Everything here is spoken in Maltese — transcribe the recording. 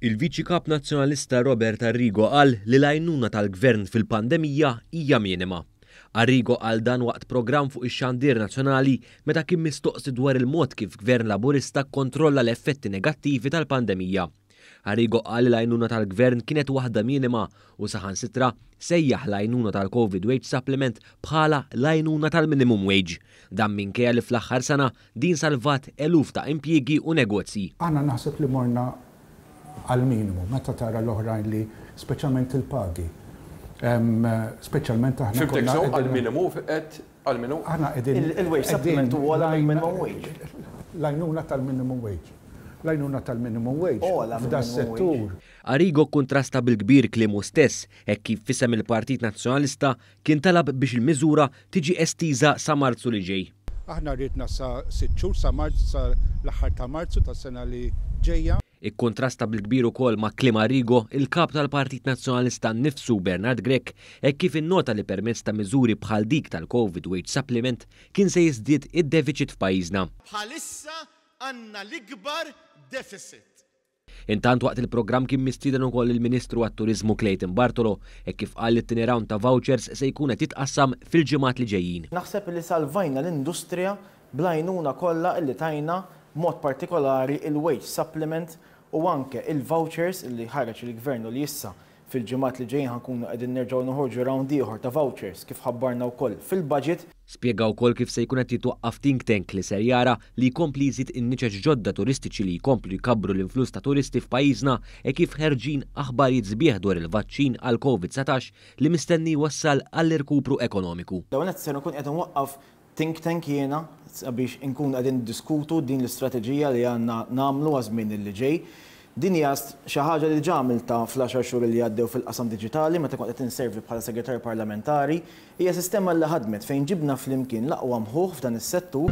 Il-Viċi Kap Nazzjonalista Robert Arrigo qal li l-għajnuna tal-Gvern fil-pandemija hija minima. Arrigo qal dan waqt programm fuq ix-xandir nazzjonali meta kien mistoqsi dwar il-mod kif Gvern Laburista kkontrolla l-effetti negattivi tal-pandemija. Arrigo qal li l-għajnuna tal-Gvern kienet waħda minima u saħansitra sejjaħ l-għajnuna tal-Covid Wage Supplement bħala l-għajnuna tal-minimum wage. Dan minkejja li fl-aħħar sena din salvat eluf ta' impjiegi u negozji. Aħna naħseb li morna għall-minimu meta tara l-oħrajn li speċjalment il-pagi speċjalment aħna konna qegħdin. Fhimtek sew għall-minimu qed Għal min hu? Aħna qegħdin. Il-wage supplement hu ogħla mill-minimum wage. L-għajnuna tal-minimum wage. L-għajnuna tal-minimum wage. Ogħla mill-minimum wage. F'das-settur. Arrigo kkuntrasta bil-kbir kliemu stess hekk kif f'isem il-Partit Nazzjonalista kien talab biex il-miżura tiġi estiża sa Marzu li ġej. Aħna riedna sa sitt xhur, sa Marzu, sa l-aħħar ta' Marzu tas-sena li ġejja. Ikkuntrasta bil-kbir ukoll ma' kliem Arrigo, il-Kap tal-Partit Nazzjonalista nnifsu, Bernard Grech, hekk kif innota li permezz ta' miżuri bħal dik tal-Covid Wage Supplement kien se jiżdied id-defiċit f'pajjiżna. Bħalissa għandna l-ikbar defiċit. Intant waqt il-programm kien mistieden ukoll il-Ministru għat-Turiżmu Clayton Bartolo hekk kif qal li t-tieni round ta' vouchers se jkun qed jitqassam fil-ġimgħat li ġejjin. Naħseb li salvajna l-industrija bl-għajnuna kollha illi tajna, b'mod partikolari il-wage supplement u anke il-vouchers illi ħareġ il-Gvern u li issa fil-ġimgħat li ġejjin ħa nkunu qegħdin nerġgħu noħorġu round ieħor ta' vouchers kif ħabbarna wkoll fil-Budget. Spjega wkoll kif se jkun qed jitwaqqaf think tank li ser jara li jkompli jżid in-niċeċ ġodda turistiċi li jkomplu jkabbru l-influss ta' turisti f'pajjiżna e kif ħerġin aħbarijiet sbieħ dwar il-vaċċin għall-Covid 19 li mistenni jwassal għall-irkupru ekonomiku. L-ewwel nett ser nkun qiegħed inwaqqaf Think tank jiena sabiex inkunu qegħdin niddiskutu din l-istrateġija li għandna nagħmlu għaż-żmien li ġej. Din hija xi ħaġa li diġà għamiltha fl-għaxar xhur li għaddew fil-qasam diġitali meta kont qed inservi bħala Segretarju Parlamentari. Hija sistema li ħadmet fejn ġibna flimkien l-aqwa mħuħ f'dan is-settur.